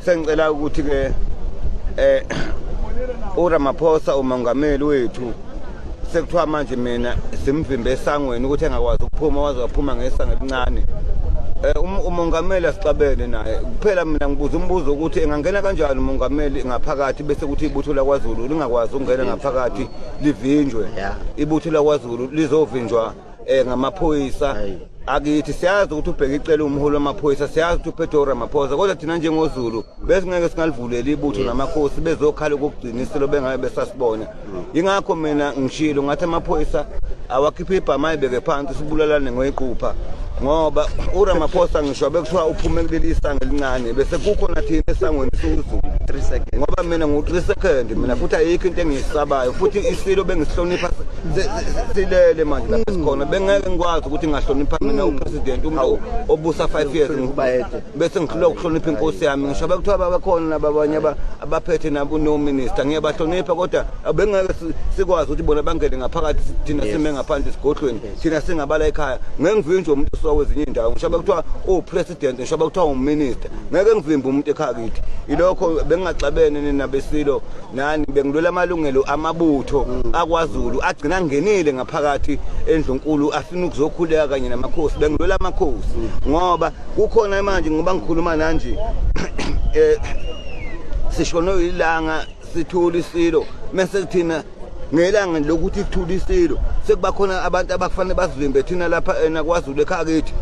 Sengicela ukuthi ke eh uRamaphosa umongameli wethu sekuthiwa manje mina simvimbe esangweni ukuthi engakwazi ukuphuma waze waphuma ngesango elincane eh, um, umongameli asixabene naye kuphela mina ngibuza umbuzo ukuthi engangena kanjani umongameli ngaphakathi bese kuthi ibutho lakwaZulu lingakwazi ukungena ngaphakathi livinjwe ibutho lakwaZulu lizovinjwa eh ngamaphoyisa akithi siyazi ukuthi ubheke icela umholi wamaphoyisa siyazi ukuthi uphethe uramaphosa kodwa thina njengozulu besingeke singalivuleli ibutho namakhosi bezokhala ukugcina isilo bengabe besasibona mm. yingakho mina ngishilo ngathi amaphoyisa awakhiphe ibhama ayibeke phansi sibulalane ngoyiqupha ngoba uramaphosa ngisho bekuthiwa uphume kuleli isango elincane bese kukhona thina esangweni suzulu ngoba mina ngu-three second mina futhi ayikho into engiyisabayo futhi isilo bengisihlonipha silele manje lapha mm. sikhona bengeke ngikwazi ukuthi ngahlonipha mina mm. upresident umuntu obusa 5 years bese ngihlula ukuhlonipha inkosi yami ngisho bekuthiwa babakhona nababanye abaphethe nabo no minister ngiyabahlonipha kodwa bengeke sikwazi ukuthi bona bangene ngaphakathi thina sime ngaphandle sigodlweni thina singabala ekhaya ngeke ngivinje umuntu osuka kwezinye indawo ngisho bekuthiwa upresident ngisho bekuthiwa uminister ngeke ngivimbe umuntu ekhaya kithi ilokho bengingaxabene nina besilo nani bengilwela amalungelo amabutho mm. akwazulu agcina angenile ngaphakathi endlunkulu afuna ukuzokhuleka kanye namakhosi bengilwela amakhosi mm. ngoba kukhona manje ngoba ngikhuluma nanje eh sishonwe ilanga sithula isilo mase kuthina ngelanga lokuthi kuthula isilo sekuba khona abantu abakufanele bazivimbe thina lapha ena eh, kwazulu ekhaya kithi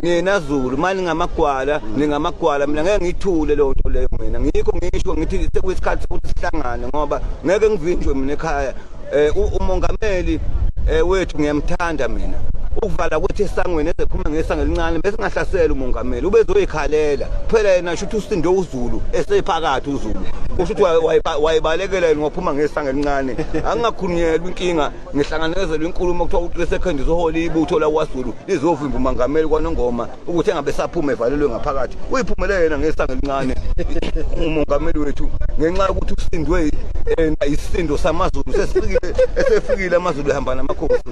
nina zulu mani ngamagwala ningamagwala mina ngeke ngiyithule leyo nto leyo mina ngikho ngisho ngithi sekuyisikhathi sokuthi sihlangane ngoba ngeke ngivinjwe mina ekhaya um umongameli um wethu ngiyamthanda mina ukuvala kuthi esangweni ezephuma ngesanga elincane bese ngahlasela umongameli ubezoyikhalela kuphela yena shuthi usinde uzulu esephakathi uzulu usho ukuthi wayebalekela yena waphuma ngesanga elincane angingakhulunyelwa inkinga ngihlanganezela inkulumo kuthiwa uThree Seconds uhole ibutho laKwaZulu lizovimba umangameli kwaNongoma ukuthi engabe saphuma evalelwe ngaphakathi uyiphumele yena ngesanga elincane umongameli wethu ngenxa yokuthi usindwe yena eh, isindo samaZulu sesifikile esefikile amaZulu ehamba namakhosi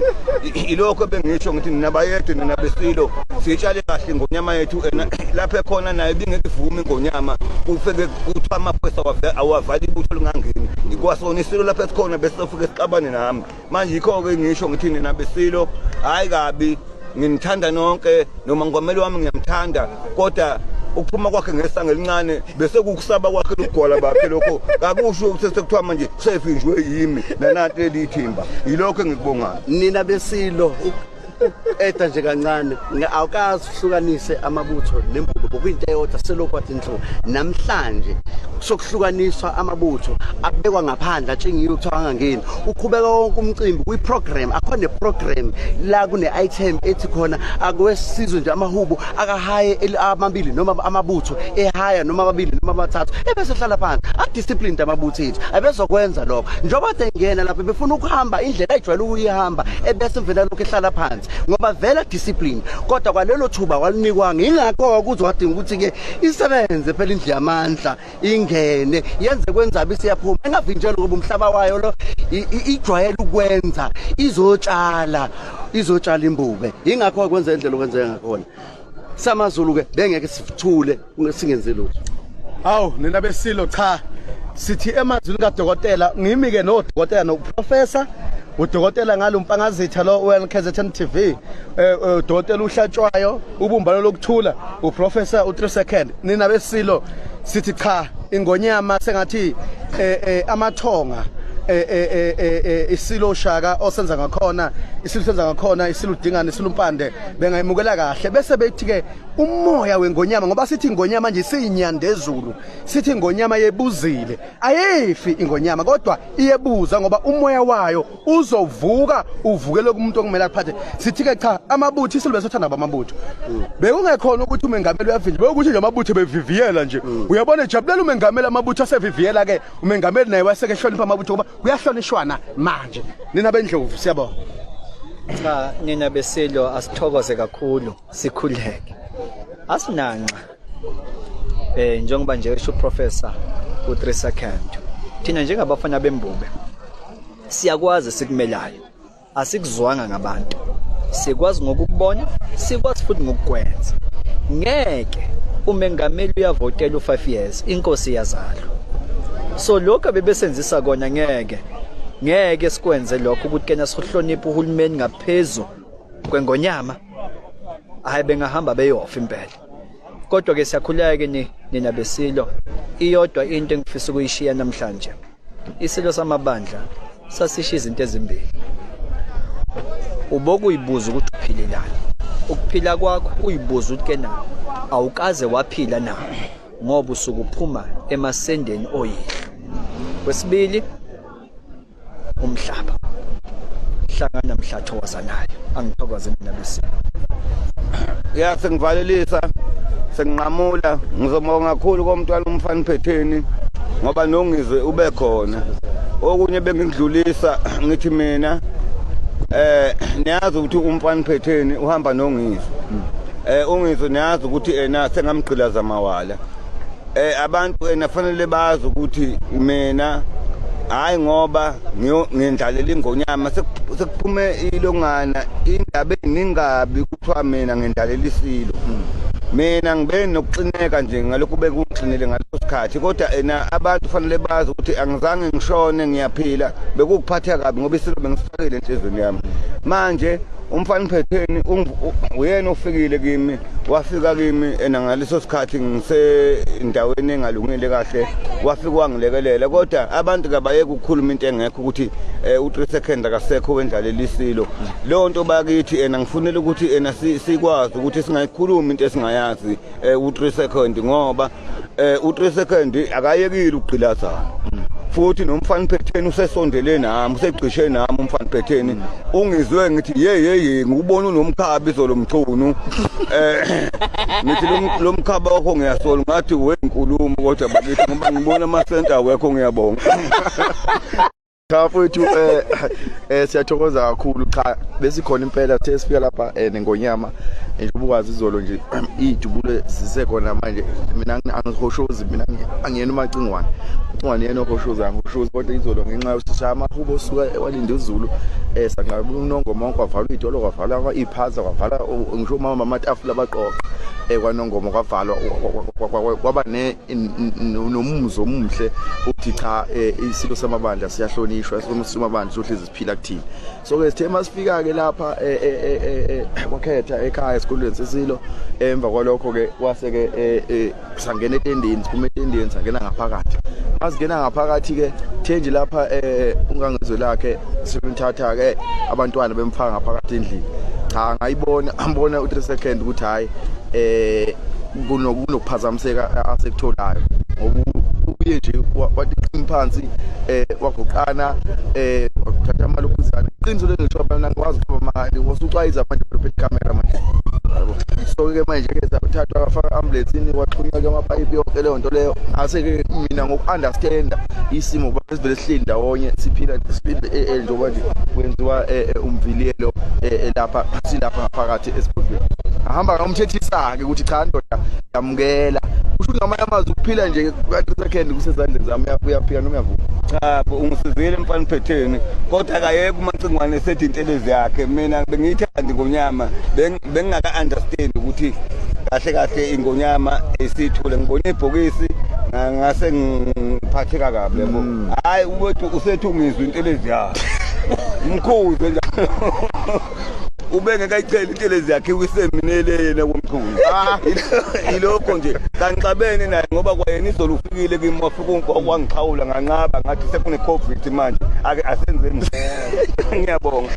ilokho bengisho ngithi nina bayedwe nina besilo sitshale kahle ingonyama yethu ena lapho ekhona naye bingeke ivume ingonyama kufike kuthiwa amaphoyisa awavala ibutho lingangeni ikwasona isilo lapho esikhona besizofike sixabane nami manje yikho-ke ngisho ngithi nina besilo hhayi kabi nginithanda nonke noma ngomeli wami ngiyamthanda kodwa ukuphuma kwakhe ngesanga elincane bese kukusaba kwakhe lokugwala bakhe lokho kakusho ukuthi sekuthiwa manje sefinjwe yimi nananto eliyithimba yilokho engikubongayo nina besilo eda nje kancane awukazi uhlukanise amabutho nembulo bokuyinto eyodwa selokhu athi nhlo namhlanje sokuhlukaniswa amabutho abekwa ngaphandle atshingiwe kuthiwa angangeni uqhubeka wonke umcimbi kwi-program akhona ne-program la kune-item ethi khona akwesizwe nje amahubo akahaye amabili noma amabutho ehaya noma amabili noma amathathu ebese hlala phansi adisciplined amabutho ethu abezokwenza lokho njengoba sengena lapho befuna ukuhamba indlela ayijwayele ukuyihamba ebese mvela lokho ehlala phansi ngoba vela discipline kodwa kwalelo thuba walinikwanga ingakho ukuzwa wadinga ukuthi-ke isebenze phela indlu yamandla ingene yenze kwenzaba isiyaphuma engavinjelwa ngoba umhlaba wayo lo ijwayele ukwenza izotshala izotshala imbube ingakho kwenza indlela okwenzeka ngakhona samazulu ke bengeke sithule singenzi lutho hawu nina besilo cha sithi emazwini kadokotela ngimi ke nodokotela noprofessor udokotela ngalo mpangazitha lo weLKZN TV eh, eh udokotela uhlatshwayo ubumbano lokuthula uprofessor u3 second nina besilo sithi cha ingonyama sengathi eh, eh, amathonga eh, eh, eh, eh, eh, isilo ushaka osenza ngakhona isilo senza ngakhona isilo udingana isilo umpande bengayimukela kahle bese bethi ke umoya wengonyama ngoba sithi ingonyama nje siyinyandezulu sithi ingonyama yebuzile ayifi ingonyama kodwa iyebuza ngoba umoya wayo uzovuka uvukele kumuntu okumele akuphathe sithi ke cha amabutho isilube sothanda bamabutho bekungekhona ukuthi umengameli uyavinjwa bekuthi nje amabutho beviviyela nje uyabona ejabulela umengameli amabutho aseviviyela ke umengameli naye waseke ehlonipha amabutho kuba kuyahlonishwana manje nina bendlovu siyabona cha nina besilwa asithokoze kakhulu sikhuleke asinanxa eh njengoba nje esho professor uTresa Khandu thina njengabafana bembube siyakwazi sikumelayo asikuzwanga ngabantu sikwazi ngokubona sikwazi futhi ngokukwenza ngeke umengameli uyavotela u5 years inkosi yazalo so lokho bebesenzisa kona ngeke ngeke sikwenze lokho ukuthi kena sihloniphe uhulumeni ngaphezulu kwengonyama hayi bengahamba beyofa impela kodwa ke siyakhuleka ke nina besilo iyodwa into engifisa ukuyishiya namhlanje isilo samabandla sasishiya izinto ezimbili ubokuyibuza ukuthi uphilelani ukuphila kwakho uyibuza ukuthi kena awukaze waphila na ngoba usukuphuma emasendeni oyihlo kwesibili umhlaba hlangana mhlatho wazanayo angithokoze mina bese ya sengivalelisa senginqamula ngizobonga kakhulu komntwana umfana phetheni ngoba nongizwe ube khona okunye bengidlulisa ngithi mina eh niyazi ukuthi umfana phetheni uhamba nongizwe eh ungizwe niyazi ukuthi ena sengamgqilaza mawala eh abantu enafanele bazi ukuthi mina hayi ngoba ngiyendlalela ingonyama sekuphume ilongana indaba eningabi kuthiwa mina ngendlalela isilo mina ngibe nokuxineka nje ngalokhu bekuxinile ngaleso sikhathi kodwa ena abantu fanele bazi ukuthi angizange ngishone ngiyaphila bekukuphatha kabi ngoba isilo bengisifakile enhlizweni yami manje umfana uphetheni uyena ofikile kimi wafika kimi ena ngaleso sikhathi ngisendaweni engalungile kahle wafika wangilekelela kodwa abantu kabayeke ukukhuluma into engekho ukuthi eh, u-three second akasekho wendlalelisilo leyo nto bakithi ena ngifunela ukuthi ena sikwazi ukuthi singayikhulumi into esingayazi um u-three second ngoba eh u3 second akayekile ukugqilazana futhi nomfana phetheni usesondele nami usegcishe nami umfana phetheni ungizwe ngithi ye ye ye ngikubona unomkhabi izolo mchunu eh ngithi lo- lo mkhaba wakho ngiyasola ngathi wenkulumo kodwa bakithi ngoba ngibona ama center awekho ngiyabonga cha mfowethu eh, eh siyathokoza kakhulu cha besikhona impela sithe sifika lapha eh, nengonyama eh, njengoba ukwazi izolo nje iy'dubulo zisekhona manje mina angihoshozi mina angiyena umacingwane ucingwane yena ohoshozi angihoshozi kodwa izolo ngenxa yosishaya amahubo osuka ewalinde uzulu um sanqaba unongomonke kwavalwa iy'tolo kwavalwa iy'phaza kwavala ngisho umama amatafula abaqoqa um kwanongoma kwavalwa kwaba nomumzo omuhle uthi cha eh, isilo samabandla siyahlonishwa somabandla sohlezi siphila kuthini so ke sithe masifika ke lapha eh, eh, kwakhetha ekhaya esikolweni sesilo emva kwalokho ke wase ke sangena etendeni siphuma etendeni sangena ngaphakathi asingena ngaphakathi ke thenje lapha ungangezwe lakhe sebemthatha ke abantwana bemfaka ngaphakathi endlini cha ngayibona ambona u3 second ukuthi hayi eh kunokuphazamiseka asekutholayo ngoba uye nje watiqini phansi eh waguqana eh wathatha amalokhuzana iqiniso lengisho abantu angikwazi ukuba mali wasucwayiza abantu bephethe camera manje yabo so ke manje ke sathathwa kwafaka ambulance ini kwaxhunywa ke amapayipi yonke leyo nto leyo ase ke mina ngokuunderstanda isimo kuba sivele sihleli ndawonye siphila siphile eh, eh, njengoba nje kwenziwa eh, umviliyelo lapha silapha ngaphakathi esigodweni ahamba ngomthethisa ke ukuthi cha ndoda yamukela usho ngamanye amazwi ukuphila nje kanti second kusezandleni zami uyaphika noma uyavuma cha ungisizile mfana phetheni kodwa akayeke umacingwane esethi intelezi yakhe mina bengiyithandi ngonyama bengingaka understand ukuthi kahle kahle ingonyama esithule ngibona ibhokisi ngase ngiphatheka kabi yabo mm. hayi ubethi usethi ungizwa intelezi yakhe mkhuze njalo ubengekayicela intelezi yakhe kwiseminele yena komchunu ah. yilokho nje kanixabene naye ngoba kwayena izolo ufikile kimi wafika okwangixhawula nganqaba ngathi sekune-covid manje ake asenzeni ngiyabonga